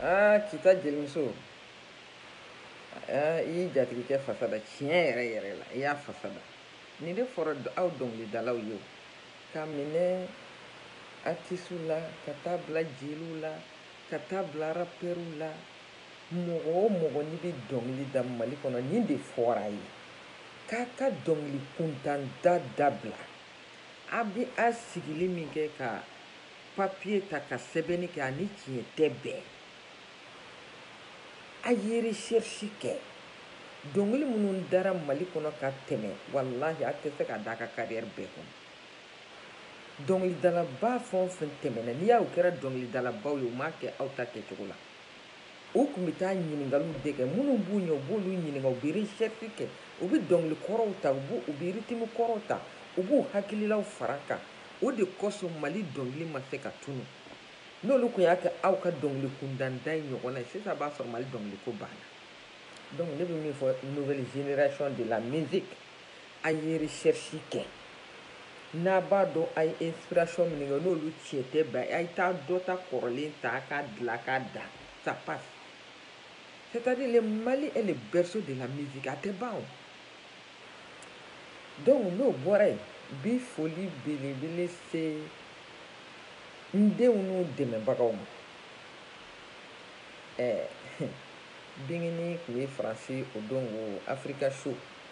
aa kita jelimuso aa i y'i jatigikɛ fasa da tiɲɛ yɛrɛ yɛrɛ la i y'a fasa da nin de fɔra aw dɔnkilidalaw ye o ka minɛ artisiw la ka taa bila jeliw la ka taa bila rapɛriw la mɔgɔ o mɔgɔ n'i bɛ dɔnkili da mali kɔnɔ nin de fɔra a ye k'a ka dɔnkili kuntan da dabila A bɛ a sigili min kɛ ka papiye ta ka sɛbɛnni kɛ a ni tiɲɛ tɛ bɛn a ye recherche kɛ dɔnkili minnu dara mali kɔnɔ ka tɛmɛ walahi a tɛ se ka da a ka carrière bɛɛ kɔnɔ dɔnkilidalaba fɛn fɛn tɛmɛna n'i y'aw kɛra dɔnkilidalabaw ye u m'a kɛ aw ta kɛcogo la U tun bɛ taa ɲininkaliw de kɛ minnu b'u ɲɛ u b'olu ɲininka u bɛ recherche kɛ u bɛ dɔnkili kɔrɔw ta u b'u u bɛ rythme kɔrɔw ta u b'u hakililaw fara a kan o de kosɔn Mali dɔnkili ma se ka tunu n'olu tun y'a kɛ aw ka dɔnkili kuntan da in ɲɔgɔnna ye sisan b'a sɔrɔ Mali dɔnkiliko banna donc ne bɛ min fɔ nouvelle génération de la musique A ye recherche kɛ n'a b'a dɔn a ye inspiration minnu kɛ n'olu tiɲɛ tɛ bɛn a ye taa dɔ ta kɔrɔlen ta a k'a dilan a k'a da ça passe c'est à dire le Mali est le berceau de la musique a tɛ ban o donc n'o bɔra yen bi foli belebele se n denw n'u dɛmɛbagaw ma ɛɛ bingini tun bɛ France o don ko Africa Show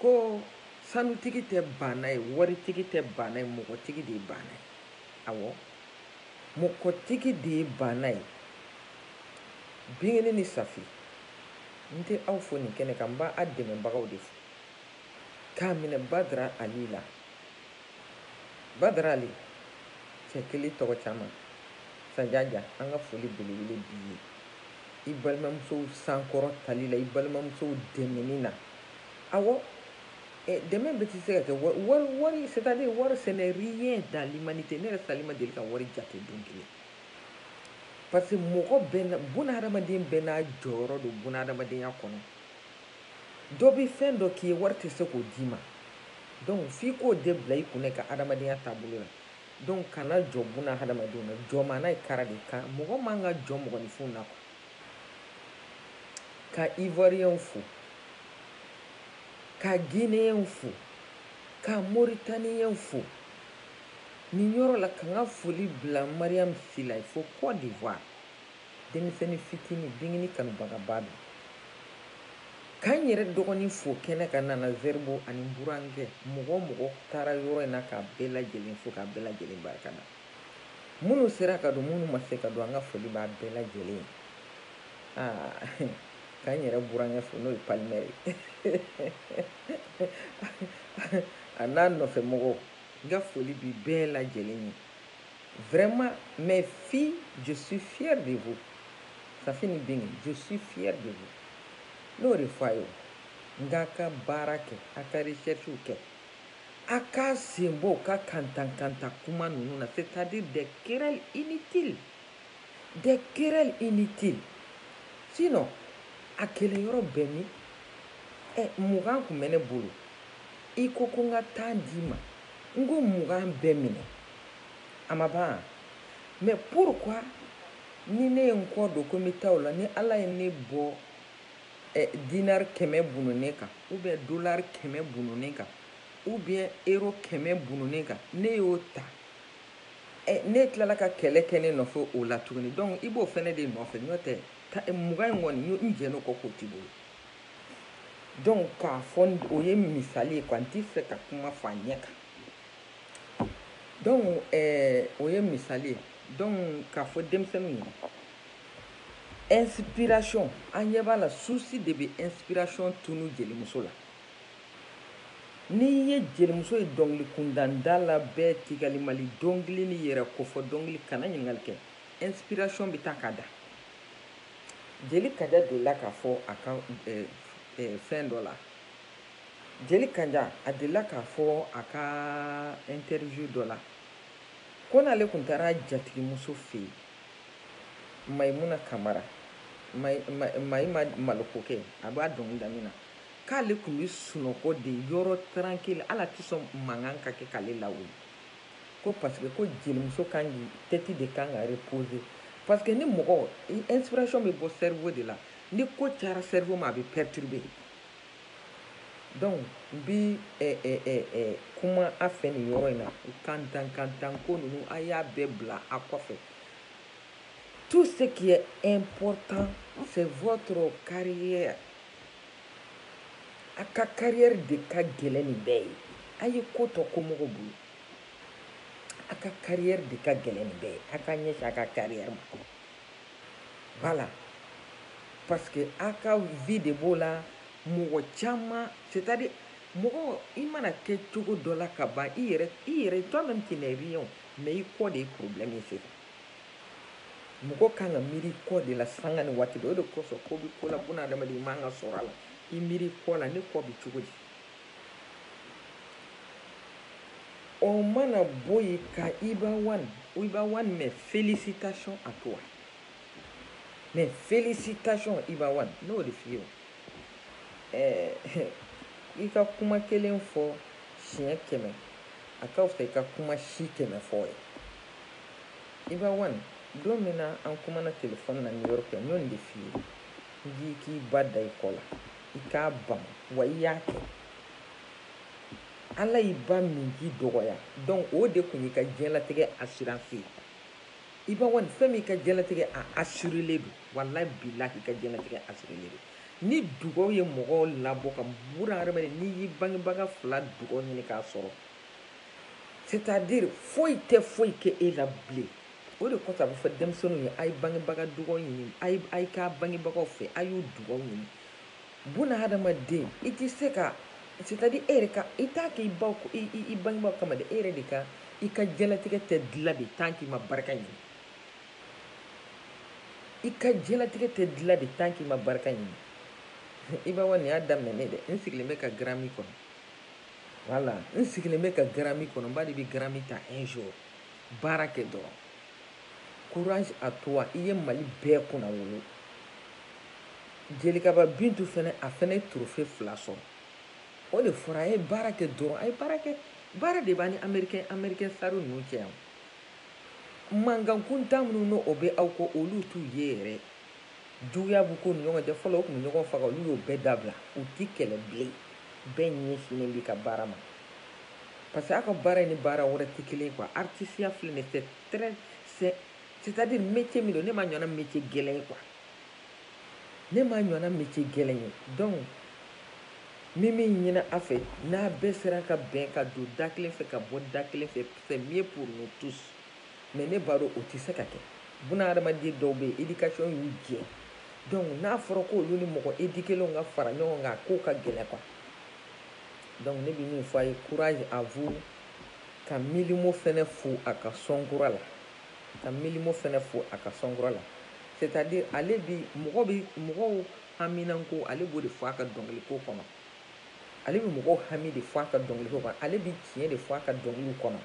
ko sanutigi tɛ baana ye waritigi tɛ baana ye mɔgɔtigi de ye baana ye awɔ mɔgɔtigi de ye baana ye bingini ni safi n tɛ aw fo nin kɛnɛ kan n b'a dɛmɛbagaw de fo k'a minɛ badara ali la badara ali cɛ kelen tɔgɔ caman sajaja an ka foli belebele b'i ye i balimamusow sankɔrɔtali la i balimamusow dɛmɛni na awɔ dɛmɛ bɛɛ tɛ se ka kɛ wari wari c'est à dire wari ce n'est rien dans l'humanité ne yɛrɛ sali ma deli ka wari jate don kelen parce que mɔgɔ bɛɛ buna hadamaden bɛɛ n'a jɔyɔrɔ don buna hadamadenya kɔnɔ dɔ bɛ fɛn dɔ k'i ye wari tɛ se k'o d'i ma donc f'i k'o de bila i kun i ka hadamadenya taabolo la donc kana jɔn buna hadamadenw na jɔn maa na ye kara de kan mɔgɔ man ka jɔn mɔgɔninfinw na ka ivoiriyɛnw fo ka gineyɛnw fo ka moritaniyɛnw fo nin yɔrɔ la ka n ka foli bila mariyamu sila fo cote d'ivoire denmisɛnnin fitini bingini kanubagaba don ka n yɛrɛ dɔgɔnin fo kɛnɛ kan nana zɛribo ani burankɛ mɔgɔ o mɔgɔ taara yɔrɔ in na k'a bɛɛ lajɛlen fo k'a bɛɛ lajɛlen barika da minnu sera ka don minnu ma se ka don an ka foli b'a bɛɛ lajɛlen ye aa ka n yɛrɛ burankɛ fo n'o ye palimɛri a n'a nɔfɛ mɔgɔw n ka foli bi bɛɛ lajɛlen ye vraiment mes filles je suis fière de vous safi ni bigini je suis fière de vous n'o de fɔ a ye n k'a ka baara kɛ a ka recherche kɛ A k'a sen bɔ u ka kantankantan kuma ninnu na c'est à dire des querelles inutiles des querelles inutiles sinon a kɛlɛyɔrɔ bɛ min ɛ mugan tun bɛ ne bolo i ko ko n ka tan d'i ma n ko mugan bɛɛ minɛ a ma ban mais pourquoi ni ne ye n kɔ don ko n bɛ taa la ni ala ye ne bɔ ɛ dinari kɛmɛ bununnen kan ou bien dolari kɛmɛ bununnen kan ou bien euro kɛmɛ bununnen kan ne y'o ta ɛ ne tilala ka kɛlɛ kɛ ne nɔfɛ o la tuguni donc i b'o fɛnɛ de nɔfɛ n'o tɛ mugan in kɔni n jɛn'o kɔ k'o t'i bolo donc k'a fɔ o ye misali ye quoi n t'i fɛ ka kuma fɔ a ɲɛ kan donc ɛɛ o ye misali ye donc k'a fɔ denmisɛnninw ye inspiration an ɲɛ b'a la souci de bɛ inspiration tunu jelimuso la n'i ye jelimuso ye dɔnkili kundanda la bɛɛ ti balimali dɔnkili ni yɛrɛ kofɔ dɔnkili kan a ɲininkali kɛ inspiration bɛ taa ka da jeli kanja delila k'a fɔ a ka eh, eh, fɛn dɔ la jeli kanja a delila k'a fɔ a ka interview dɔ la ko n'ale tun taara jatigimuso fɛ yen mayimuna kamara mayima malokokɛ a b'a dɔnkili da min na k'ale tun bɛ sunɔgɔ de yɔrɔ tranquille la a tɛ sɔn mankan ka kɛ k'ale lawuli ko parce que ko jelimuso kan k'i tête de kan ka reposer parce que ni mɔgɔ inspiration bɛ bɔ cerveau de la ni ko cayara cerveau ma a bɛ perturber Donc n bɛ kuma a fɛ nin yɔrɔ in na kantankantan ko ninnu a y'a bɛɛ bila a kɔfɛ tout ce qui est important c'est votre carrière a ka carrière de ka gɛlɛn nin bɛɛ ye a ye ko tɔ to mɔgɔw bolo a ka carrière de ka gɛlɛn nin bɛɛ ye a ka ɲɛsin a ka carrière ma voilà parce que a ka vie de b'o la mɔgɔ caman c'est à dire mɔgɔ i mana kɛ cogo dɔ la ka ban i yɛrɛ i yɛrɛ toi même tu n'es rien mais i kɔ de ye problème ye sisan mɔgɔ kan ka miiri i kɔ de la sanga ni waati bɛɛ o de kosɔn ko bi ko la buna adamaden i man ka sɔrɔ a la i miiri i kɔ la ne kɔ bi cogo di O mana bɔ yen ka Iba One fo Iba One mais félicitations à toi mais félicitations Iba One ne y'o de f'i ye o ɛɛ eh, i ka kuma kelen fɔ siɲɛ kɛmɛ a ka fisa i ka kuma si kɛmɛ fɔ ye Iba One don min na an kumana telefɔni na New York yan n y'o de f'i ye n k'i k'i ba da i kɔ la i k'a bamu wa i y'a kɛ ala y'i ba min k'i dɔgɔya donc o de kun y'i ka diɲɛlatigɛ assurance ye Iba One fɛn min i ka diɲɛlatigɛ a assurélen don wallahi bilahi i ka diɲɛlatigɛ assurélen don ni dugaw ye mɔgɔw labɔ ka buna hadamaden n'i y'i bangebaga fila dugaw ɲini k'a sɔrɔ c'est à dire foyi tɛ foyi kɛ e la bilen o de kosɔn a bɛ fɔ denmisɛnninw ye a ye bangebaga dugaw ɲini a ye k'a bangebagaw fɛ a y'u dugaw ɲini buna hadamaden i tɛ se ka c'est-à-dire e yɛrɛ ka i t'a kɛ i baw i bangebaaw kama dɛ e yɛrɛ de ka i ka diɲɛlatigɛ tɛ dilan de tant k'i ma barika ɲini i ka diɲɛlatigɛ tɛ dilan de tant k'i ma barika ɲini Iba One y'a daminɛ ne dɛ n sigilen bɛ ka Grammy kɔnɔ voilà n sigilen bɛ ka Grammy kɔnɔ Iba de bɛ Grammy ta un jour Baara kɛ dɔrɔn. Courage à toi i ye Mali bɛɛ kunna wolo. Jelikaba Bintu fɛnɛ, a fɛnɛ ye trophée fila sɔrɔ. O de fɔra a ye baara kɛ dɔrɔn. A ye baara kɛ. Baara de b'an ni Américain star ninnu cɛ yan. Mankan kuntan minnu n'o bɛ aw kɔ, olu t'u ye yɛrɛ. Juguya b'u k'u ni ɲɔgɔn cɛ. Fɔlɔ u tun bɛ ɲɔgɔn faga, olu y'o bɛɛ dabila. U tɛ kɛlɛ bilen. Bɛɛ ɲɛsinnen b'i ka baara ma. Parce que aw ka baara ni baara wɛrɛ tɛ kelen quoi artisiya filɛ nin c'est très c'est c'est à dire métier min don ne ma ɲɔgɔnna métier gɛlɛn ye quoi ne ma ɲɔgɔnna métier gɛlɛn ye donc n bɛ min ɲini a fɛ n'a bɛɛ sera ka bɛn ka don da kelen fɛ ka bɔ da kelen fɛ c'est mieux pour nous tous mais ne b'a dɔn o tɛ se ka kɛ buna hadamaden dɔw bɛ yen éducation y'u jɛ donc n'a fɔra ko olu ni mɔgɔ éduquélenw ka fara ɲɔgɔn kan a ko ka gɛlɛn quoi donc ne bɛ min fɔ a ye courage à vous ka Mylmo fɛnɛ fo a ka sɔnkura la ka Mylmo fɛnɛ fo a ka sɔnkura la c'est-à-dire ale bi mɔgɔ bɛ mɔgɔw haminanko ale b'o de fɔ a ka dɔnkiliko kɔnɔ ale bɛ mɔgɔw hami de fɔ a ka dɔnkiliko kɔnɔ ale bɛ tiɲɛ de fɔ a ka dɔnkiliw kɔnɔ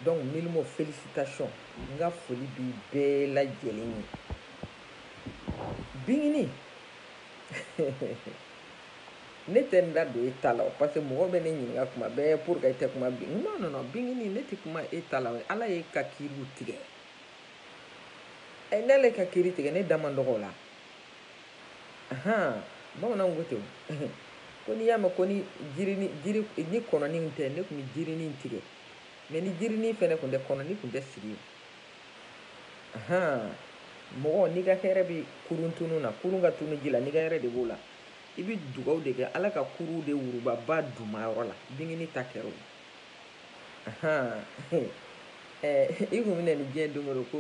donc Mylmo félicitations n ka foli bi bɛɛ lajɛlen ye binini ne tɛ n da don e ta la o parce que mɔgɔ bɛ ne ɲininka kuma bɛɛ pour que e tɛ kuma bin non non non bingini ne tɛ kuma e ta la ala ye ka kiriw tigɛ ɛ n'ale ka kiri tigɛ ne da man dɔgɔ o la ahan bamananw ko ten ko n'i y'a mɛn ko ni jirini jiri ni kɔnɔni tɛ ne tun bɛ jirinin tigɛ mais ni jirinin fɛnɛ tun tɛ kɔnɔni tun tɛ sigi ahan mɔgɔ n'i ka hɛrɛ bɛ kurun tunu na kurun ka tunu ji la n'i ka hɛrɛ de b'o la i bɛ dugawu de kɛ ala ka kurun de wuruba ba dunmayɔrɔ la bingini ta kɛra o i kun bɛna ni diɲɛ don o ko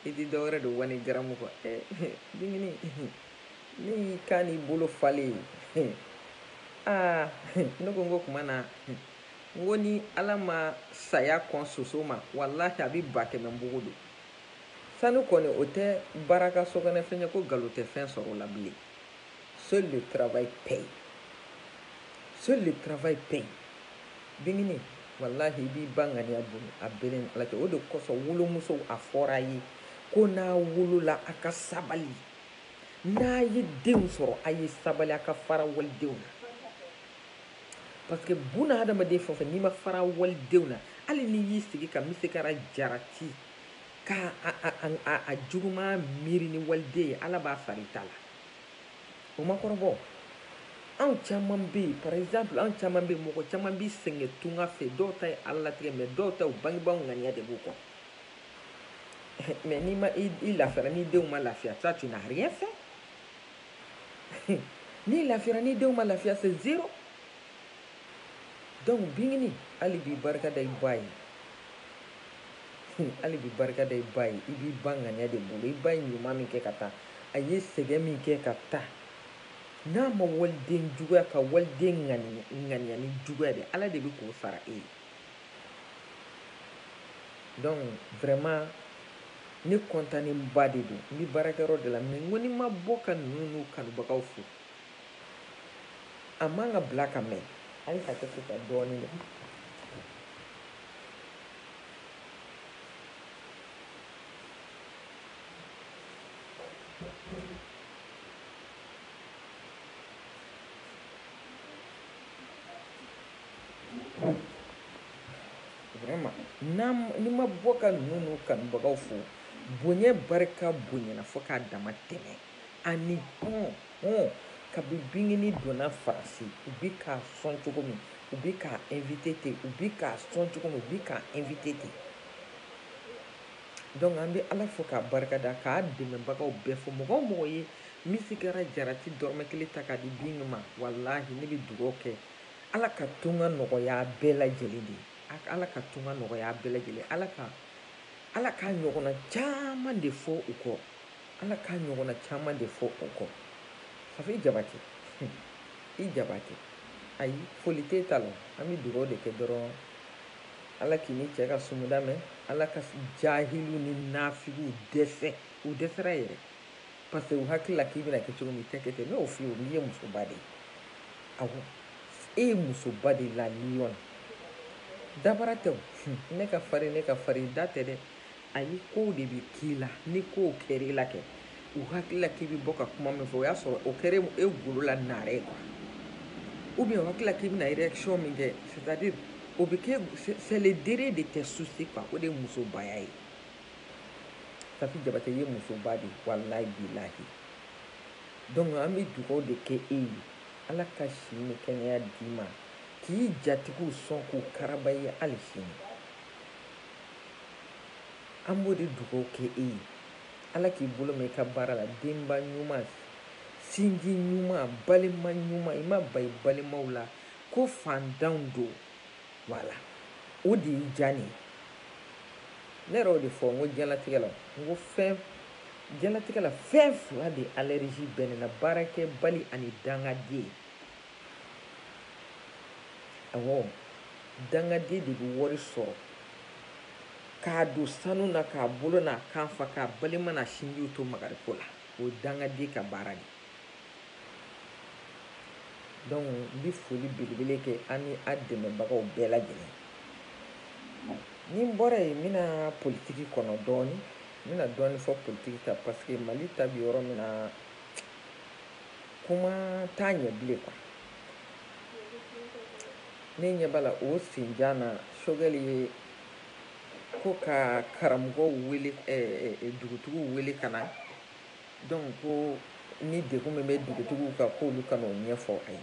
i tɛ dɔwɛrɛ don wani garamu kɔ bingini ne y'i kan n'i bolo falen ye aa ne ko n ko kuma na n ko ni ala ma saya kɔn soso ma walahi a bɛ ba kɛmɛ npogo don Sanu kɔni o tɛ baraka sokɔnɔfɛn ye ko nkalon tɛ fɛn sɔrɔ o la bilen. Seul le travail paye. Seul le travail paye. Bingini, walahi i b'i ba ŋaniya bolo a b'e ni Ala cɛ. O de kosɔn wolomusow a fɔra a ye ko n'a wolola a ka sabali. N'a ye denw sɔrɔ a ye sabali a ka fara walidenw na. Parce que buna hadamaden fɛn o fɛn n'i ma fara walidenw na, hali n'i y'i sigi ka misikala jarati, K' a juguman miiri ni waliden ye ala b'a fara i ta la o ma kɔrɔbɔ anw caman bɛ yen par exemple anw caman bɛ mɔgɔ caman bɛ sɛgɛn tunga fɛ dɔw ta ye ala latigɛ mais dɔw ta bangebaaw ŋaniya de b'u kɔ mais n'i ma i lafiyara n'i denw ma lafiya ça tu n'as rien fait n'i lafiyara n'i denw ma lafiya c'est zéro Donc bingini hali bi barika da i ba ye hali bi barika da i ba ye i b'i ba ŋaniya de bolo i ba ye ɲuman min kɛ ka taa a ye sɛgɛn min kɛ ka taa n'a ma waliden juguya ka waliden ŋaniya ni juguya de ala de bɛ k'o sara e ye donc vraiment ne kɔntanenba de don n bɛ baarakɛyɔrɔ de la mais n ko ni n ma bɔ ka ninnu n'u kanubagaw fo a man ka bila ka mɛn hali ka kɛ kuta dɔɔnin ye ni n ma bɔ ka ninnu n'u kanubagaw fo bonya barika bonyana fo k'a dama tɛmɛ ani hɔn hɔn kabi bingini donna faransi u bi k'a sɔn cogo min u bi k'a invite ten u bi k'a sɔn cogo min u bi k'a invite ten donc an bɛ ala fo k'a barika da k'a dɛmɛbagaw bɛɛ fo mɔgɔ o mɔgɔ ye misigara jarati dɔrɔmɛ kelen ta k'a di bingi ma walahi ne bɛ dugaw kɛ ala ka tunga nɔgɔya bɛɛ lajɛlen de ala ka tunga nɔgɔya bɛɛ lajɛlen ala ka ala k'a ɲɔgɔnna caman de fɔ u kɔ Ala k'a ɲɔgɔnna caman de fɔ o kɔ. Safi Jabate, hun, i Jabate, ayi, foli t'e ta la, an bɛ dugawu de kɛ dɔrɔn Ala k'i ni cɛ ka sumuda mɛn, Ala ka jahiliw ni nafigiw dɛsɛ, u dɛsɛra yɛrɛ, parce que u hakili la k'i bɛna kɛ cogo min, i tɛ kɛ ten, ne y'o f'i ye o, n'i ye musoba de ye, awɔ, e ye musoba de ye, la lionne, dabara tɛ o, hun, ne ka farin, ne ka farin, da tɛ dɛ, ayi kow de bɛ k'i la ni kow kɛra i la kɛ u hakili la k'i bɛ bɔ ka kuma min fɔ o y'a sɔrɔ o kɛra e golo la naare ye quoi ou bien o hakili la k'i bɛna réaction min kɛ c'est à dire o bɛ kɛ c'est le dernier de tes soucis quoi o de ye musobaya ye Safi Jabate i ye musoba de ye walayi bilahi donc an bɛ dugawu de kɛ e ye Ala ka si ni kɛnɛya d'i ma k'i jatigiw sɔn k'u karaba i ye hali sini. An b'o de dugawu kɛ e ye ala k'i bolo mɛn i ka baara la denba ɲuman sinji ɲuman balima ɲuman i ma ban i balimaw la ko fantanw don voilà o de y'i diya ne ye ne yɛrɛ y'o de fɔ n ko diɲɛlatigɛ la n ko diɲɛlatigɛ la fɛn fila de allergie bɛ ne na baarakɛbali ani dangaden awɔ dangaden de bɛ wari sɔrɔ k'a don sanu na k'a bolo n'a kan fa k'a balima n'a sinjiw to magariko la o ye dangaden ka baara de donc n bɛ foli belebele kɛ ani a dɛmɛbagaw bɛɛ lajɛlen ni n bɔra yen n bɛna politiki kɔnɔ dɔɔni n bɛna dɔɔni fɔ politiki kan parce que mali ta bɛ yɔrɔ min na Kuma t'a ɲɛ bilen quoi ne ɲɛ b'a la o senjan na Sogɛli ye ko ka karamɔgɔw wele dugutigiw wele ka na donc ko ni degun min bɛ dugutigiw kan k'olu ka n'o ɲɛfɔ a ye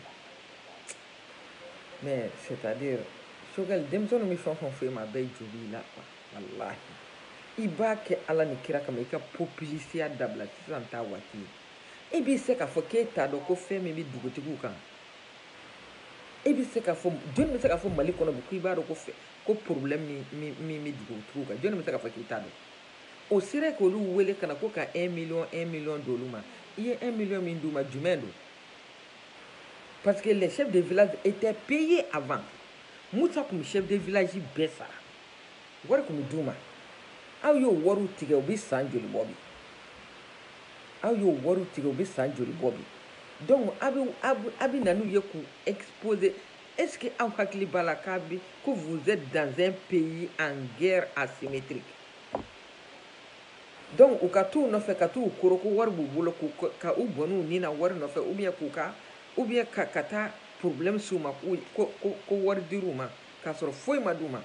mais c'est à dire Sogɛli denmisɛnninw bɛ fɛn o fɛn fɔ i ma a bɛɛ jo b'i la quoi walahi i b'a kɛ Ala ni kira kama i ka popilisiya dabila sisan t'a waati ye. E bɛ se k'a fɔ k'e t'a dɔn ko fɛn min bɛ dugutigiw kan e bɛ se k'a fɔ jɔnni bɛ se k'a fɔ Mali kɔnɔ bi ko i b'a dɔn ko fɛ ko problème min min min bɛ dugutigiw kan jɔnni bɛ se k'a fɔ k'i t'a dɔn o sera k'olu wele ka na ko ka 1 million 1 million d'olu ma i ye 1 million min d'u ma jumɛn don parce que les chefs de village étaient payés avant Moussa tun bɛ chef de village bɛɛ sara wari tun bɛ d'u ma aw y'o wariw tigɛ o bɛ san joli bɔ bi aw y'o wariw tigɛ o bɛ san joli bɔ bi donc a bɛ a bɛ na n'u ye k'u exposer est ce que aw hakili b'a la k'a bɛ ko vous êtes dans un pays en guerre asymétrique donc u ka t'u nɔfɛ ka t'u koro ko wari b'u bolo k'u ka u bɔn'u ni na wari nɔfɛ ou bien k'u ka ou bien ka ka taa problème s'u ma ko ko ko wari dir'u ma k'a sɔrɔ foyi ma d'u ma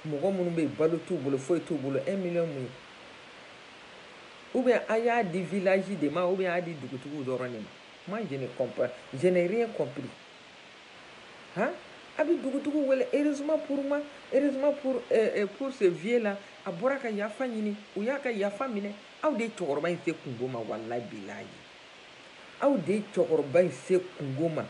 mɔgɔ minnu bɛ balo t'u bolo foyi t'u bolo un million mun ye ou bien a y'a di village de ma ou bien a y'a di dugutigiw dɔrɔn de ma moi je ne comprends je n'ai rien compris hein a bɛ dugutigiw wele heureusement pour moi heureusement pour euh, euh, pour ce vieux là a bɔra ka yafa ɲini u y'a ka yafa minɛ aw de ye cɛkɔrɔba in se kunko ma walayi bilayi Aw de ye cɛkɔrɔba in se kunko ma.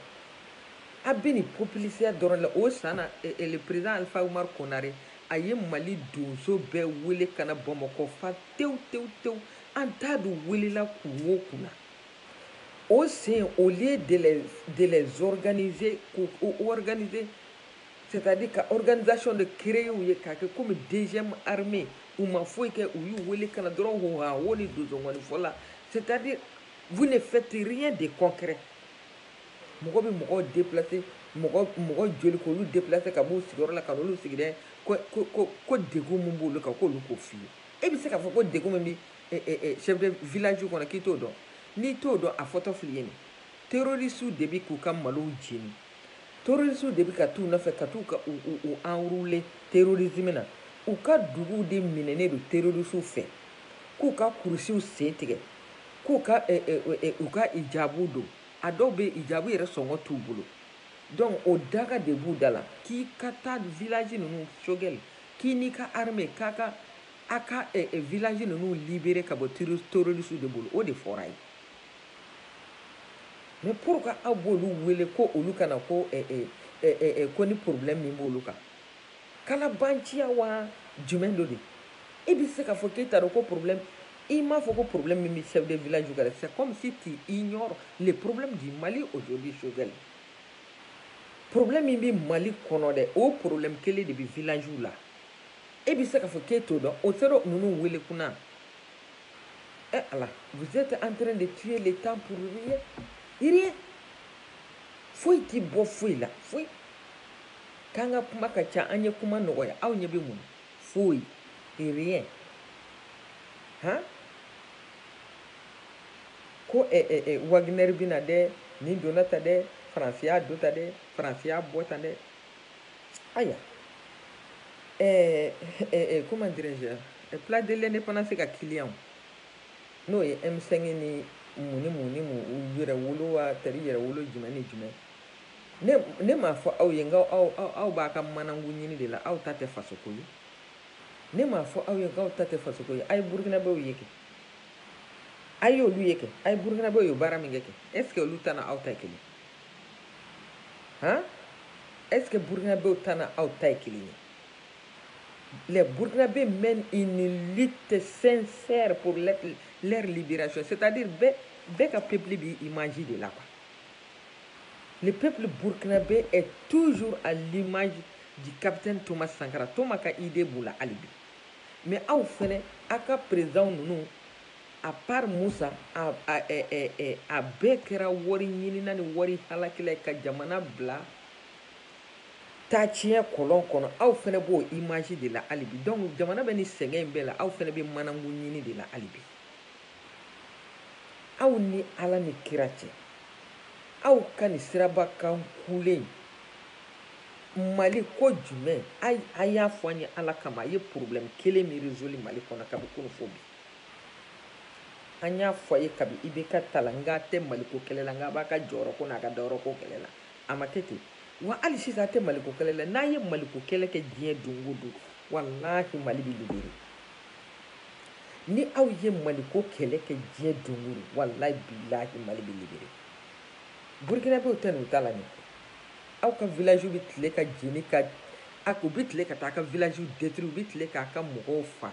A bɛ nin populisiya dɔrɔn la. O san na, le president Alpha Oumar Konare, a ye Mali donso bɛɛ wele ka na Bamakɔ fa tewu tewu tewu. An t'a dɔn u welela kun o kun na. O sen, au lieu de les organiser, k'u organiser, C'est à dire ka organisation de créer u ye k'a kɛ comme deuxième armée u ma foyi kɛ u y'u wele ka na dɔrɔn hoha wo ni donsongɔni fɔ la c'est à dire vous ne faites rien de concret mɔgɔ bɛ mɔgɔw déplacer mɔgɔ mɔgɔ joli k'olu déplacer ka b'u sigiyɔrɔ la ka n'olu sigi dɛ ko ko ko ko degun min b'olu kan k'olu k'o f'i ye e bɛ se k'a fɔ ko degun min bɛ chef de village kɔnɔ k'i t'o dɔn n'i t'o dɔn a fɔtɔ fil'i ye nin terroriste de bɛ k'u ka malow jeni Terorisiw de bɛ ka taa u nɔfɛ ka taa ka u enrôler terrorisme na u ka duguw de minɛnen don terorisiw fɛ k'u ka kulusiw sen tigɛ k'u u ka hijabu don a dɔw bɛ hijabu yɛrɛ sɔngɔ t'u bolo donc o daga de b'u da la k'i ka taa village ninnu Choguel k'i n'i ka armée k'a ka aw ka village ninnu libérer ka bɔ tero terorisiw de bolo o de fɔra ye mais pourquoi aw b'olu wele ko olu ka na ko ko ni problème min b'olu kan kalabanciya wa jumɛn don dɛ i bɛ se k'a fɔ k'e t'a dɔn ko problème i m'a fɔ ko problème min bɛ chef de village kan c'est comme si tu ignores le problème du Mali aujourd'hui Choguel problème min bɛ Mali kɔnɔ dɛ o problème kelen de bɛ village la e bɛ se k'a fɔ k'e t'o dɔn o tɛ ninnu wele kun na E ala vous êtes en train de tuer le temps pour rien rien foyi t'i bɔ foyi la foyi k'an ka kuma ka ca an ye kuma nɔgɔya aw ɲɛ bɛ mun foyi rien hɔn ko Wagner bɛ na dɛ nin donna tan dɛ Faransi y'a don tan dɛ Faransi y'a bɔ tan dɛ ayiwa ɛɛ ɛɛ comment dirais-je eh, place de l'indépendance ka kiliyanw n'o ye M5 ni mun ni mun ni mun u yɛrɛwolo wa tari yɛrɛwolo jumɛn ni jumɛn ne ne m'a fɔ aw ye n k'aw aw b'a ka manangu ɲini de la aw ta tɛ fasoko ye ne m'a fɔ aw ye n k'aw ta tɛ fasoko ye a ye burukinabew ye kɛ a y'olu ye kɛ a ye burukinabew ye baara min kɛ kɛ est ce que olu ta n'aw ta ye kelen han est ce que burkinabew ta n'aw ta ye kelen ye les burkinabés mènent une lutte sincère pour leur, leur libération c'est à dire bɛɛ ka peuple b'i image de la quoi le peuple burkinabé est toujours à l'image du capitaine thomas sankara thomas ka idée b'u la hali bi mais aw fɛnɛ aw ka président ninnu À part musa a bɛɛ kɛra wari ɲinina ni wari halakila ye ka jamana bila taa tiɲɛ kɔlɔn kɔnɔ aw fɛnɛ b'o image de la hali bi donc jamana bɛ ni sɛgɛn in bɛɛ la aw fɛnɛ bɛ manangu ɲini de la hali bi aw ni ala ni kira cɛ aw ka nin siraba kan kulen mali ko jumɛn a y'a fɔ an ye ala kama a ye problème kelen min résolu mali kɔnɔ kabi kunu fo bi an y'a fɔ a ye kabi IBK ta la n k'a tɛ maliko kɛlɛ la n k'a b'a ka jɔyɔrɔ ko n'a ka dayɔrɔ ko kɛlɛ la a ma kɛ ten wa hali sisan a tɛ maliko kɛlɛ la n'a ye maliko kɛlɛ kɛ diɲɛ don o don walahi mali bɛ libere ni aw ye maliko kɛlɛ kɛ diɲɛ don o don walahi bilahi mali bɛ libere burukinabew tɛ n'u ta la nin aw ka village bɛ tile ka jeni ka a u bɛ tile ka taa a ka village détruire u bɛ tile k'a ka mɔgɔw fa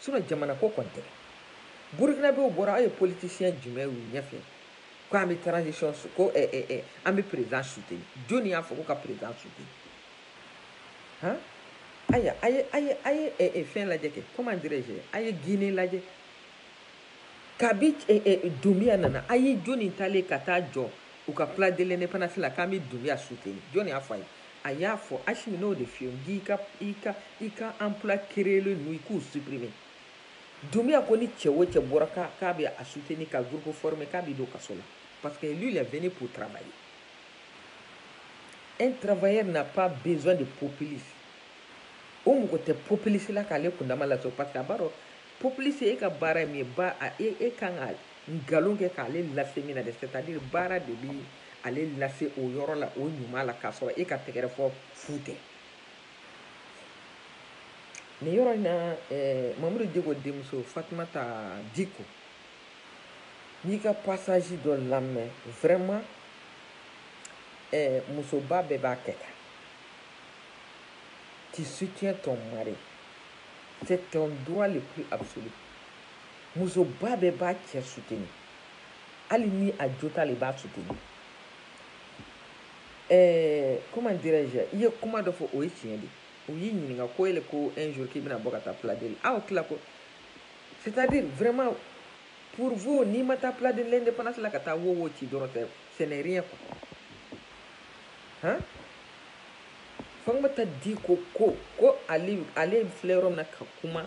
Sinɔn jamana ko kɔni tɛ burukinabew bɔra aw ye politisiyɛn jumɛn y'u ɲɛfɛ ko an bɛ transition su ko eh, eh, eh, an bɛ perezidan suteni joni y'a fɔ ko ka perezidan suteni han aya a ye a ye a ye eh, eh, fɛn lajɛ kɛ comment dirais je a ye guine lajɛ kabi eh, eh, dunbiya nana a ye joni taalen ka taa jɔ u ka place de l'indépendance la k'an bɛ dunbiya suteni joni y'a fɔ a ye A y'a fɔ Asimi n'o de f'i ye i ka i ka i ka emploi créelen ninnu i k'u supprimer Dunbiya ko ni cɛ o cɛ bɔra k'a k'a bɛ a soutenir ka groupe former k'a bɛ don kaso la parce que lui il est venu pour travailler un travailleur n'a pas besoin de populiste o mako tɛ populiste la k'ale kundama laso parce que a b'a dɔn populiste e ka baara ye min ye ba e, e kan ka nkalon kɛ k'ale lase min na dɛ c'est à dire baara de bi ale lase o yɔrɔ la o ɲuman la k'a sɔrɔ e ka tɛgɛrɛfɔ fu tɛ nin yɔrɔ in na eh, mamudu diko denmuso fatumata diko n y'i ka passage dɔ lamɛn vraiment eh, musoba bɛɛ b'a kɛ tan tu soutiens ton mari c'est ton droit le plus absolu musoba bɛɛ b'a cɛ soutenir hali ni a jo t'ale b'a soutenir eh, comment dirais-je i ye kuma dɔ fɔ o ye tiɲɛ de u y'i ɲininka ko ele ko un jour k'i bɛna bɔ ka taa place de aw tila ko c'est à dire vraiment pour vous n'i ma taa place de l'indépendance la ka taa wo wo ci dɔrɔn tɛ ce n'est rien quoi hein fatumata diko ko ko ale ale filɛ yɔrɔ min na ka kuma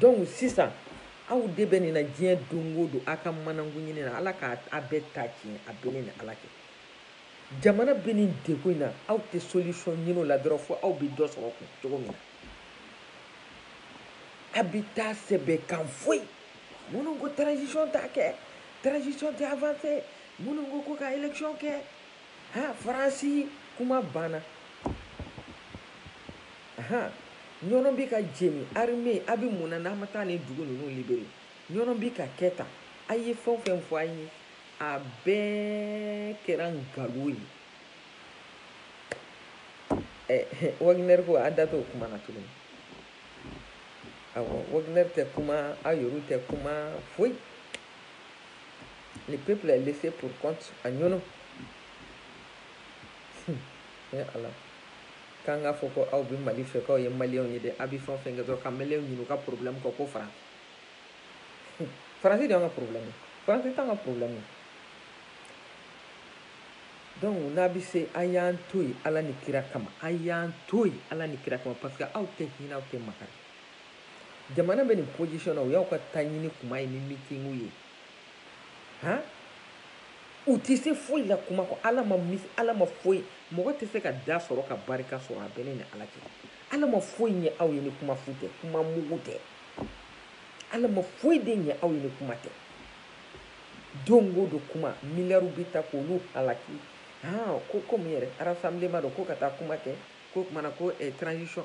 donc sisan aw de bɛ nin na diɲɛ don o don aw ka manankun ɲini na ala ka a bɛɛ ta tiɲɛ a bɛ ne ni ala cɛ jamana bɛ nin degun in na aw tɛ solution ɲini o la dɔrɔn fo aw bɛ dɔ sɔrɔ kun cogo min na a bɛ taa sɛbɛn kan foyi minnu ko transition t'a kɛ transition tɛ avancer minnu ko ko ka élection kɛ ha faransi kuma banna Ahan! Ɲɔnɔn bɛ ka jeni, armee, a bɛ mun na n'an ma taa nin dugu ninnu libere? Ɲɔnɔn bɛ ka kɛ tan. A ye fɛn o fɛn fɔ an ye, a bɛɛ kɛra nkalon ye. Ɛ, Wagner ko, a da t'o kuma na tuguni. Awɔ, Wagner tɛ kuma, aw yɛrɛw tɛ kuma, foyi. Le peuple est laissé pour compte à Ɲɔnɔn. Hun, ee Ala! K'an k'a fɔ ko aw bɛ Mali fɛ k'aw ye maliyɛnw ye dɛ, a bɛ fɛn o fɛn kɛ dɔrɔn ka maliyɛnw ɲinɛ u ka porobilɛmu kɔ ko Faransi. Faransi de y'an ka porobilɛmu ye, Faransi t'an ka porobilɛmu ye. Donc n'a bɛ se a y'an to yen Ala ni kira kama, a y'an to yen Ala ni kira kama parce que aw tɛ hinɛ aw tɛ makari. Jamana bɛ nin position na o y'aw ka taɲini kuma ye ni meetingiw ye. u tɛ se foyi la kuma kɔ ala ma ala ma foyi mɔgɔ tɛ se ka da sɔrɔ ka barika sɔrɔ a bɛ ne ni ala cɛ ala ma foyi ɲɛ aw ye ni kuma fu tɛ kuma mugu tɛ ala ma foyi de ɲɛ aw ye ni kuma tɛ don o don kuma miliyariw bɛ ta k' olu halaki ko komi yɛrɛ rassemblement dɔ ko ka taa kuma kɛ ko kumana ko transition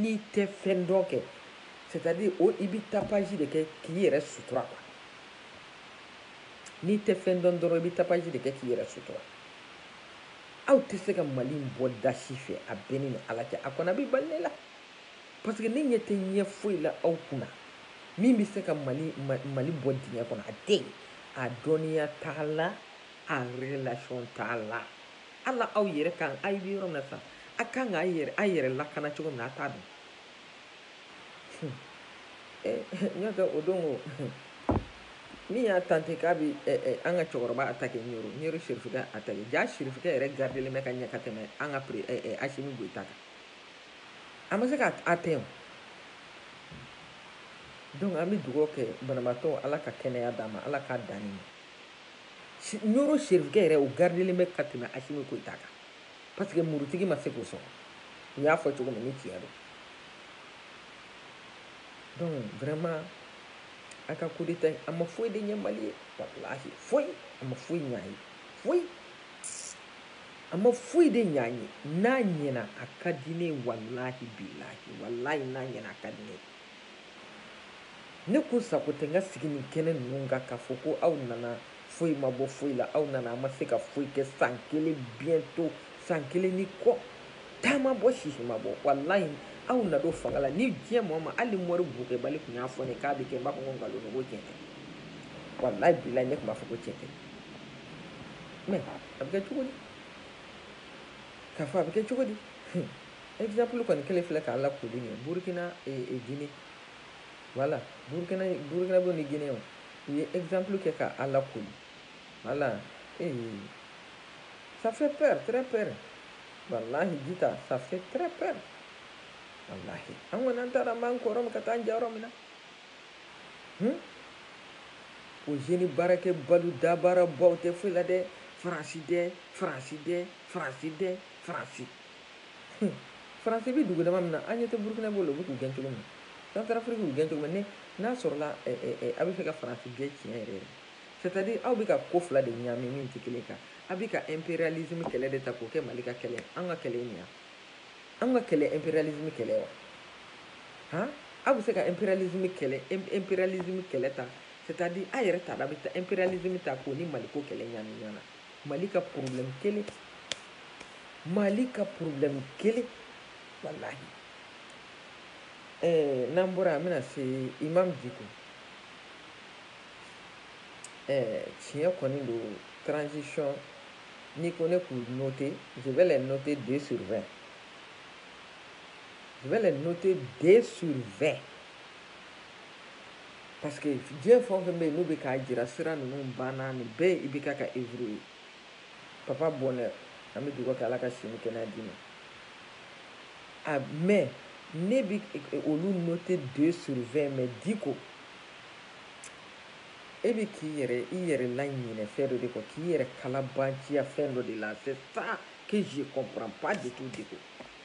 N'i tɛ fɛn dɔn kɛ, c'est à dire o i bɛ tapage de kɛ k'i yɛrɛ sutura quoi, n'i tɛ fɛn dɔn dɔrɔn i bɛ tapage de kɛ k'i yɛrɛ sutura. Aw tɛ se ka Mali in bɔ da si fɛ a bɛ ne ni Ala cɛ, a kɔni a bɛ bali ne la parce que ne ɲɛ tɛ ɲɛ foyi la aw kunna min bɛ se ka Mali Mali bɔ dingɛ kɔnɔ, a tɛ yen, a dɔnniya t'a la, a relation t'a la. Ala aw yɛrɛ kan a bɛ yɔrɔ min sa a kan ka yɛrɛ a yɛrɛ lakana cogo min a t'a dɔn n'o tɛ o don o min y'a tenté k'a bɛ an ka cɛkɔrɔba attaquer Ɲɔrɔ sirifikɛ attaquer ja sirifikɛ yɛrɛ gardelen bɛ ka ɲɛ ka tɛmɛ an ka Asimi Goyita kan a ma se ka atteint donc an bɛ dugawu kɛ banabaatɔ ala ka kɛnɛya d'a ma ala k'a dan ma Ɲɔrɔ sirifikɛ yɛrɛ o gardelen bɛ ka tɛmɛ Asimi Goyita kan parce que murutigi ma se k'o sɔrɔ u y'a fɔ cogo min ni tiɲɛ don donc vraiment a ka coup d'état a ma foyi de ɲɛ mali ye foyi a ma foyi ɲɛ a ye foyi a ma foyi de ɲɛ an ye n'a ɲɛna a ka di ne walahi bilahi walayi n'a ɲɛna a ka di ne Ne kun sago tɛ n ka sigi nin kɛnɛ ninnu kan k'a fɔ ko aw nana foyi ma bɔ foyi la, aw nana a ma se ka foyi kɛ san kelen bientôt san kelen ni kɔ, ta ma bɔ sisi ma bɔ, walahi aw na don fanga la ni diɲɛ maa o maa, hali ni mori bokɛbali tun y'a fɔ ne ye k'a bɛ kɛ, n b'a fɔ ko nkalon don, n ko tiɲɛ tɛ, walahi bilahi ne tun b'a fɔ ko tiɲɛ tɛ, mais a bɛ kɛ cogo di? K'a fɔ a bɛ kɛ cogo di? Hun. Exemple kɔni kelen filɛ k'a lakoli ye Burkina et, eh, et eh, Guinée voilà Burkina Burkina b'o ni Guinée o u ye exemple kɛ ka a lakoli voilà ee eh, ça fait peur très peur wallahi Djita ça fait très peur wallahi an kɔni an t'a dɔn an b'an kɔrɔ min ka taa an ja yɔrɔ min na hmm? o jeune baarakɛbalu dabaarabaw tɛ foyi la dɛ faransi dɛ faransi dɛ faransi dɛ faransi faransi bɛ dugu dama min na an ɲɛ tɛ burukina b'o la u bɛ k'u gɛn cogo min na centrafrique y'u gɛn cogo min n'a sɔrɔla a bɛ fɛ ka faransi gɛn tiɲɛ yɛrɛ yɛrɛ c'est-à-dire aw bɛ ka ko fila de ɲaami min tɛ kelen kan a bɛ ka impérialisme kɛlɛ de ta k'o kɛ mali ka kɛlɛ an ka kɛlɛ nin yan an ka kɛlɛ impérialisme kɛlɛ wa han aw bɛ se ka impérialisme kɛlɛ impérialisme kɛlɛ ta c'est-à-dire a yɛrɛ t'a la a bɛ taa impérialisme ta k'o ni maliko kɛlɛ ɲaami ɲɔgɔn na mali ka problème kelen mali ka problème kelen walahi eh, n'an bɔra an bɛna se imam diko eh, tiɲɛ kɔni don transition n'i ko ne k'u noter je vais les noter 2 sur 20 je vais les noter 2 sur 20 Parce que diɲɛ fɛn o fɛn bɛ yen n'u bɛ k'a jira sira ninnu banna nin bɛɛ i bɛ k'a ka œuvre ye papa bonheur an bɛ dugawu kɛ ala ka si ni kɛnɛya d'i ma a mais ne bɛ olu noter deux sur vingt mais diko e bɛ k'i yɛrɛ i yɛrɛ laɲinɛ fɛn dɔ de kɔ k'i yɛrɛ kalabanciya fɛn dɔ de la c'est ça que je comprends pas du tout diko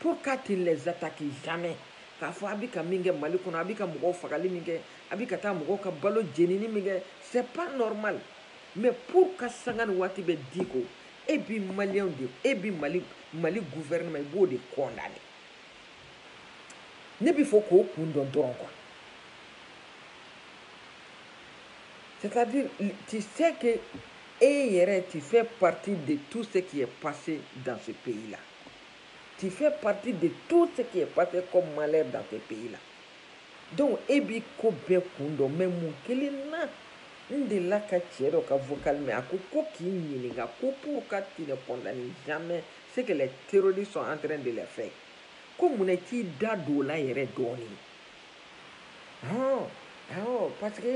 pourquoi tu ne les attaques jamais k'a fɔ a bɛ ka min kɛ mali kɔnɔ a bɛ ka mɔgɔw fagali min kɛ a bɛ ka taa mɔgɔw ka balo jenini min kɛ c'est pas normal mais pourquoi sanga ni waati bɛɛ diko e bi maliyɛnw de e bi mali mali gouvernement i b'o de condamner ne bɛ fɛ k'o kun dɔn dɔrɔn quoi c'est-à-dire tu sais que e yɛrɛ tu fais partie de tout ce qui est passé dans ce pays-là. tu fais partie de tout ce qui est passé comme malheur dans ce pays-là donc e b'i ko bɛɛ kun dɔn mais mun kelen na n delila ka cɛ dɔ ka vocal mɛn a ko ko k'i ɲininka ko pourquoi tu ne condamnes jamais ce que les terroristes sont en train de les faire ko mun na i t'i da don o la yɛrɛ dɔɔnin hɔn awɔ parce que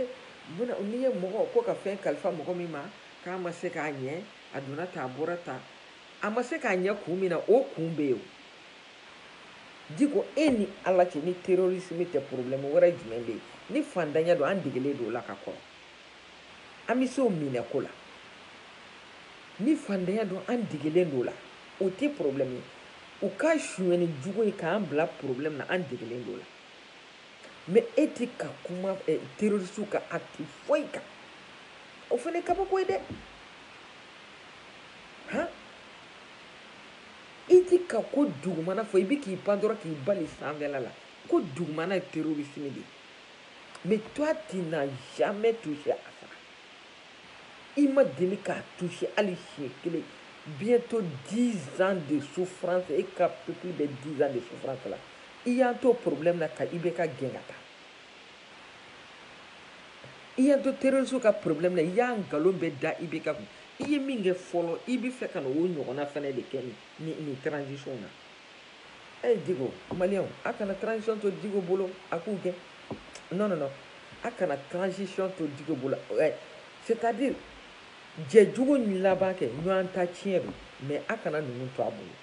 muna n'i ye mɔgɔ ko ka fɛn kalifa mɔgɔ min ma k'a ma se k'a ɲɛ a donna tan a bɔra tan A ma se k'a ɲɛ kun min na o kun bɛ yen diko e ni ala cɛ ni terrorisme tɛ problème wɛrɛ jumɛn bɛ yen ni fantanya don an degelen don o la ka kɔrɔ an bɛ se o minɛko la ni fantanya don an degelen don o la o tɛ problème ye u ka sonyɛni jugu ye k'an bila problème na an degelen don o la mais e tɛ ka kuma eh, terroriste ka acte foyi kan o fana kabako ye dɛ han i ti ka ko dugumana fɔ i bi k'i pan dɔrɔn k'i bali sanfɛla la ko dugumana ye terorisime de mais toi tu n'as jamais touché à ça i ma deli k'a touché hali siɲɛ kelen bientôt 10 ans de souffrance e ka peuple bɛ 10 ans de souffrance la i y'an to problème na ka IBK gɛn ka taa i y'an to terorisiw ka problème na i y'a nkalon bɛɛ da IBK kun i ye min kɛ fɔlɔ i bɛ fɛ ka na o ɲɔgɔnna fɛnɛ de kɛ ni ni transition na ɛ eh, Diko maliyɛnw a kana transition to Diko bolo a k'u gɛn non non non a kana transition to Diko bolo ɛ eh, c'est à dire jɛ jugu laban kɛ ɲɔgɔn ta tiɲɛ don mais a kana ninnu to a bolo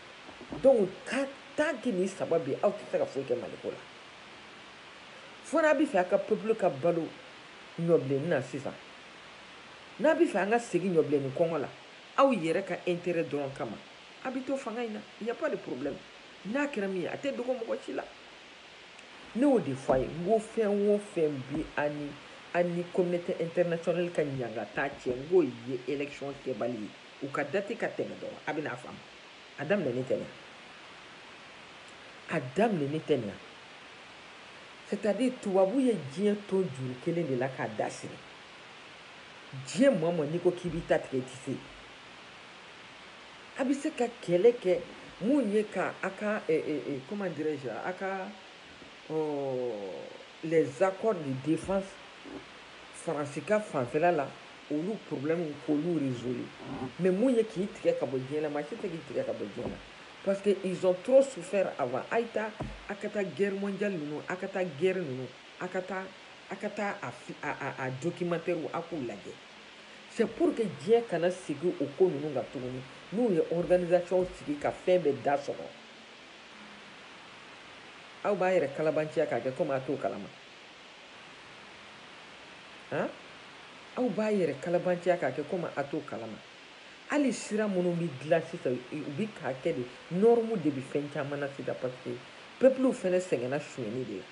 donc tant que ni saba bi aw tɛ se ka foyi kɛ Mali ko la fo n'a bɛ fɛ a ka peuple ka balo ɲɔbilenni na sisan n'a bɛ fɛ an ka segin ɲɔbilenni kɔngɔ la aw yɛrɛ ka intérêt dɔrɔn kama a bɛ to fanga in na il y a pas de problème n'a kɛra min ye a tɛ dogo mɔgɔ si la ne y'o de fɔ a ye n ko fɛn o fɛn bi an ni an ni communauté internationale ka ɲangata cɛ n k'o ye élection kɛbali ye U ka date ka tɛmɛ dɔrɔn, a bɛna a faamu. A daminɛni tɛ nin A daminɛni tɛ nin C'est à dire tubabu ye diɲɛ ton juru kelen de la k'a da siri. Diɲɛ maa o maa n'i ko k'i b'i ta tigɛ i tɛ se. A bɛ se ka kɛlɛ kɛ mun ye ka a ka eh, eh, eh, comment dirais-je a ka oh, les accords de défense Faransi ka fanfɛla la olu problème k'olu résoudre mais mun ye k'i tigɛ ka bɔ diɲɛ na maa si tɛ k'i tigɛ ka bɔ diɲɛ na parce que ils ont trop souffert avant a ye taa a ka taa guerre mondiale ninnu a ka taa guerre ninnu a ka taa a ka taa a a a documentaire a k'u lajɛ c'est pour que diɲɛ kana segin o ko ninnu kan tuguni n'u ye organisation sigi ka fɛn bɛɛ da sɔgɔ aw b'a yɛrɛ kalabanciya k'a kɛ komi a t'o kalama han aw b'a yɛrɛ kalabanciya k'a kɛ komi a t'o kalama hali sira minnu bɛ dilan sisan u bɛ k'a kɛ de norme de bɛ fɛn caman na sisan parce que peuple fana sɛgɛnna sonyɛni de la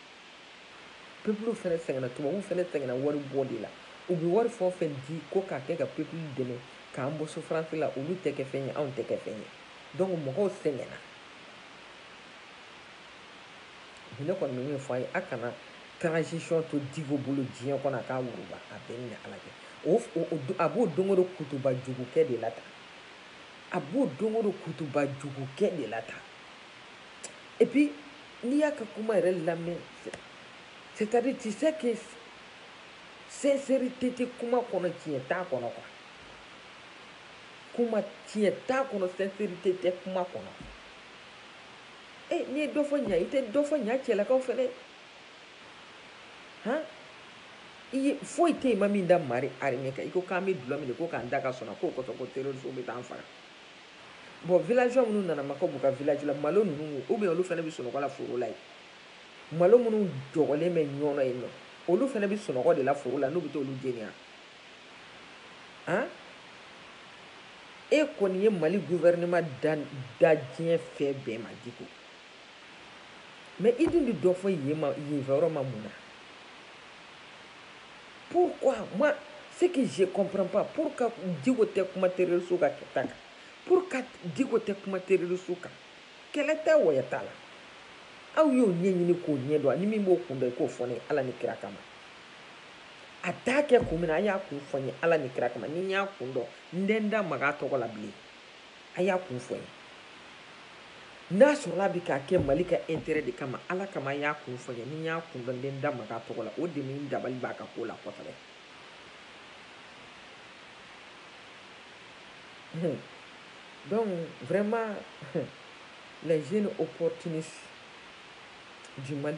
peuple fana sɛgɛnna tubabuw fana sɛgɛnna wari bɔ de la u bɛ wari fɛn o fɛn di ko k'a kɛ ka peuple dɛmɛ k'an bɔ souffrance la olu tɛ kɛ fɛn ye anw tɛ kɛ fɛn ye donc mɔgɔw sɛgɛnna ne kɔni bɛ min fɔ a ye a kana transition to Diko bolo diɲɛ kɔnɔ a k'a wuguba a bɛɛ ni Ala cɛ o a b'o don o don kutuba jugu kɛ de la tan a b'o don o don kutuba jugu kɛ de la tan et puis n'i y'a ka kuma yɛrɛ lamɛn c'est-à-dire tu sais que sincérité tɛ kuma kɔnɔ tiɲɛ t'a kɔnɔ quoi kuma tiɲɛ t'a kɔnɔ sincérité tɛ kuma kɔnɔ e n'i ye dɔ fɔ ɲa i tɛ dɔ fɔ ɲa cɛlakaw fɛnɛ han i ye foyi tɛ yen i ma min da mali armée kan i ko k'an bɛ dulɔ min de ko k'an da ka sunɔgɔ k'o kosɔn ko terroristew bɛ t'an faga bon villageois minnu nana makaw b'u ka village la malo ninnu ou bien olu fɛnɛ bɛ sunɔgɔ la foro la yen malo minnu jɔgɔlen bɛ ɲɔnɔ yen nɔ olu fɛnɛ bɛ sunɔgɔ de la foro la n'u bɛ t'olu jeni wa an e kɔni ye mali gouvernement da diɲɛ fɛn bɛɛ ma diko mais i dun tɛ dɔ fɔ yenfɛyɔrɔ ma mun na pourquoi moi ce que je comprends pas pourquoi diko tɛ kuma terroriste ka kɛta kan pourquoi diko tɛ kuma terroriste kan kɛlɛ tɛ wɔyɔ t'a la aw y'o ɲɛɲini k'o ɲɛdɔn ani min b'o kun dɔn i k'o fɔ ne ye ala ni kira kama a t'a kɛ kun min na a y'a kun fɔ n ye ala ni kira kama ni n y'a kun dɔn n tɛ n da maga a tɔgɔ la bilen a y'a kun fɔ n ye n'a sɔrɔla a bɛ k'a kɛ mali ka intérêt de kama ala kama a y'a kun fɔ n ye ni n y'a kun dɔn n tɛ n da maga a tɔgɔ la o de bɛ n dabali ban a ka ko la kosɛbɛ hmm. donc vraiment hmm, les jeunes opportunistes du Mali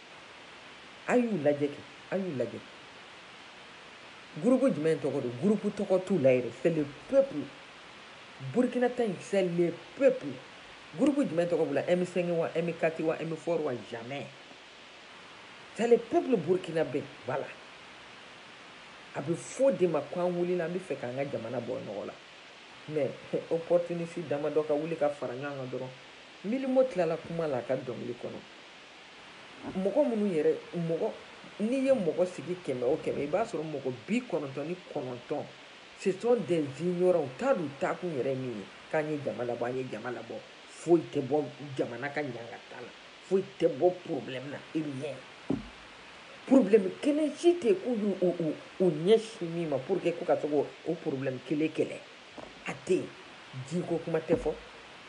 a y'u lajɛ kɛ a y'u lajɛ gurupu jumɛn tɔgɔ don gurupu tɔgɔ t'u la yɛrɛ c'est le peuple burkina ta in c'est le peuple gurupu jumɛn tɔgɔ b'u la m5 wa m4 wa m4 wa jamais c'est le peuple burkinabé voilà a bɛ f'o de ma ko an wulila an bɛ fɛ k'an ka jamana bɔ nɔgɔ la mais opportuniste damadɔ ka wuli ka fara ɲɔgɔn kan dɔrɔn mylmo tilala kuma la a ka dɔnkili kɔnɔ mɔgɔ minnu yɛrɛ mɔgɔ n'i ye mɔgɔ sigi kɛmɛ o kɛmɛ i b'a sɔrɔ mɔgɔ bi kɔnɔntɔn ni kɔnɔntɔn ce sont des ignorants u t'a dɔn u taakun yɛrɛ min ye k'an ye jama labɔ an ye jama labɔ foyi tɛ bɔ jamana ka ɲangata la foyi tɛ bɔ problème na rien problème kelen si tɛ k'u y'u ɲɛsin min ma pour que k'u ka se k'o problème kelen kɛlɛ a tɛ yen jiko kuma tɛ fɔ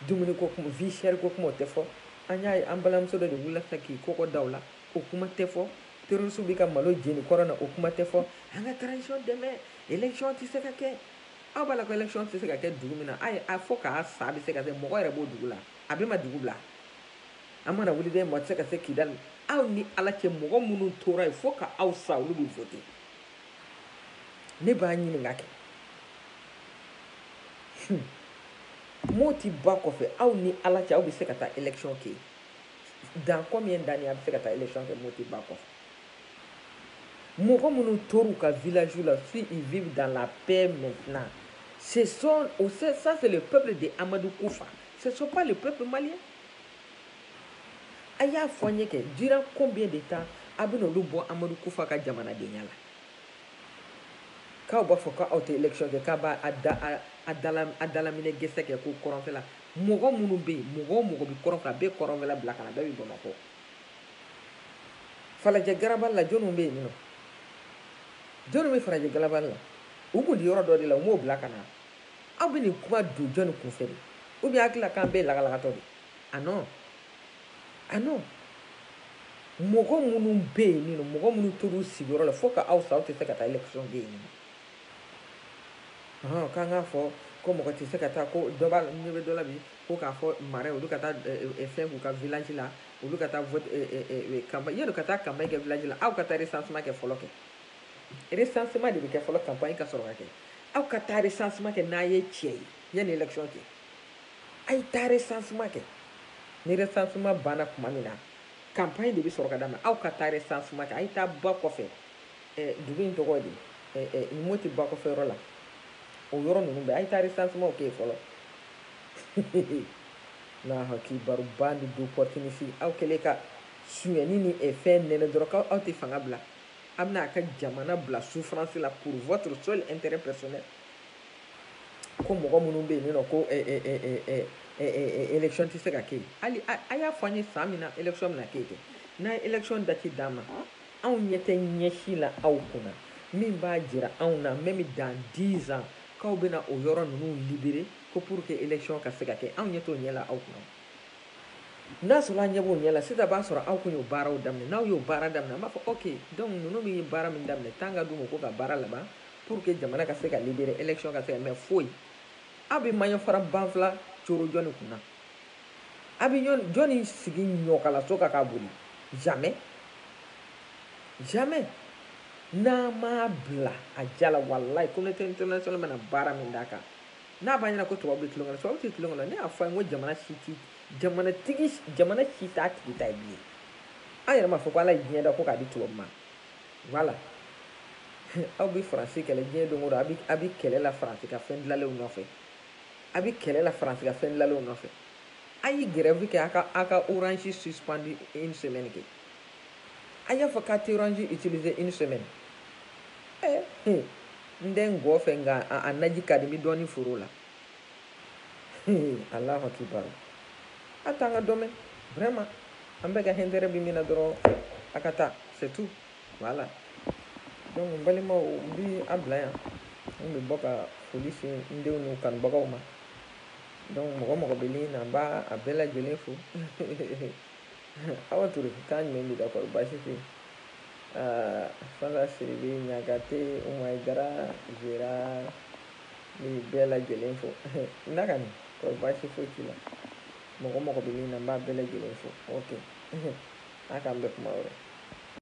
dumuni ko kuma vie chère ko kuma o tɛ fɔ an y'a ye an balimamuso dɔ de wulila sisan k'i kɔgɔ da o la o kuma tɛ fɔ terroriste bɛ ka malo jeni kɔrɔn na o kuma tɛ fɔ an ka transition dɛmɛ élection tɛ se ka kɛ aw b'a la ko élection tɛ se ka kɛ dugu min na a ye a fɔ k'a sa bɛ se ka kɛ mɔgɔ yɛrɛ b'o dugu la a bɛɛ ma dugu bila an mana wuli dɛ mɔgɔ tɛ se ka se kidali aw ni ala cɛ mɔgɔ minnu tora yen fo ka aw sa olu bɛ vote ne b'a ɲininka kɛ Moti ba kɔfɛ aw ni ala cɛ aw bɛ se ka taa élection kɛ dans combien d'années a bɛ se ka taa élection kɛ Moti ba kɔfɛ mɔgɔ minnu tor'u ka village la si ils vivent dans la paix maintenant ce sont ça c'est le peuple de Amadou Koufa ce sont pas le peuple malien a y'a fɔ an ye kɛ durant combien de temps a bɛna olu bɔ Amadou Koufa ka jamanadenya la k'aw b'a fɔ k'aw tɛ élection kɛ k'a b'a a dalaminɛ gɛsɛ kɛ ko kɔrɔnfɛla mɔgɔ minnu bɛ yen mɔgɔ o mɔgɔ bɛ kɔrɔnfɛ a bɛɛ kɔrɔnfɛla bila ka na bɛɛ bɛ bamakɔ falajɛ garabali la jɔniw bɛ yen nɔ jɔniw bɛ falajɛ garabali la u tun tɛ yɔrɔ dɔ de la u m'o bila ka na aw bɛ nin kuma don jɔni kunfɛ de ou bien hakili la k'an bɛɛ ye lagalagatɔ de ah non ah non mɔgɔ minnu bɛ yen nin nɔ mɔgɔ minnu tor'u sigiyɔrɔ la fo ka aw sa aw tɛ se ka taa élection kɛ yen nɔ k'an k'a fɔ ko mɔgɔ tɛ se ka taa ko dɔ b'a la ɲɛ bɛ dɔ la bi ko k'a fɔ Mara olu ka taa fɛn k'u ka village la olu ka taa vote campagne yanni ka taa campagne kɛ village la aw ka taa recensement kɛ fɔlɔ kɛ recensement de bɛ kɛ fɔlɔ campagne ka sɔrɔ ka kɛ aw ka taa recensement kɛ n'a ye tiɲɛ ye yanni élection cɛ a ye taa recensement kɛ ni recensement banna tuma min na campagne de bɛ sɔrɔ ka daminɛ aw ka taa recensement kɛ a ye taa ba kɔfɛ dugu in tɔgɔ de nin Moti ba kɔfɛ yɔrɔ la o yɔrɔ ninnu bɛɛ a ye taa recensement kɛ fɔlɔ n'a hakili b'a rɔ bande d'opportunistes aw kɛlen ka sunyɛni ni fɛn nɛnɛ dɔrɔn k'aw tɛ fanga bila a bɛna a ka jamana bila souffrance la pour votre seul intérêt personnel ko mɔgɔ minnu bɛ yen nɔ ko élection tɛ se ka kɛ hali a y'a fɔ an ye san min na élection bɛna kɛ yen n'a ye élection date d'an ma anw ɲɛ tɛ ɲɛ si la aw kunna min b'a jira anw na même dans 10 ans k'aw bɛna o yɔrɔ ninnu libérer ko pour que élection ka se ka kɛ anw ɲɛ t'o ɲɛ la aw kunna n'a sɔrɔ an ɲɛ b'o ɲɛ la sisan b'a sɔrɔ aw kun y'o baaraw daminɛ n'aw y'o baara daminɛ an b'a fɔ ok donc ninnu min ye baara min daminɛ temps ka d'u ma u k'u ka baara laban pour que jamana ka se ka libérer élection ka se ka mais foyi aw bɛ maɲɔ fara banfula coron jɔni kun na a bɛ jɔni sigi ɲɔkalaso kan k'a boli jamais jamais n'a m'a bila a ja la walayi communauté internationale bɛna baara min d'a kan n'a b'a ɲɛna ko tubabu bɛ tulonkɛ la tubabu tɛ tulonkɛ la ne y'a fɔ a ye n ko jamana si tɛ jamana tigi jamana si t'a tigi ta ye bilen an yɛrɛ m'a fɔ ko ala ye diɲɛ da ko k'a di tubabu ma Voilà aw bɛ faransi kɛlɛ diɲɛ don o don a bɛ kɛlɛ la faransi ka fɛn dilanlenw nɔfɛ a bɛ kɛlɛ la faransi ka fɛn dilanlenw nɔfɛ a ye grève kɛ a ka a ka orange suspendu une semaine kɛ a y'a fɔ k'a tɛ orange utiliser une semaine ɛɛ n tɛ ngɔn fɛ nka a naji ka di n bɛ dɔɔni foron la alahu akibaru a t'an ka dɔ mɛn vraiment an bɛɛ ka intérêt bɛ min na dɔrɔn a ka taa c'est tout voilà donc n balimaw n bi a bila yan n bɛ bɔ ka foli se n denw n'u kanubagaw ma donc mɔgɔ mɔgɔ bɛ min na n b'a a bɛɛ lajɛlen fo awa ture k'a ɲuman b'i la kɔri baasi tɛ yen fala sidibe ɲagate umayi jara zera N bɛ bɛɛ lajɛlen fo nakani kɔri baasi foyi t'i la mɔgɔ mɔgɔ bɛ min na n b'a bɛɛ lajɛlen fo ok a k'an bɛn kuma wɛrɛ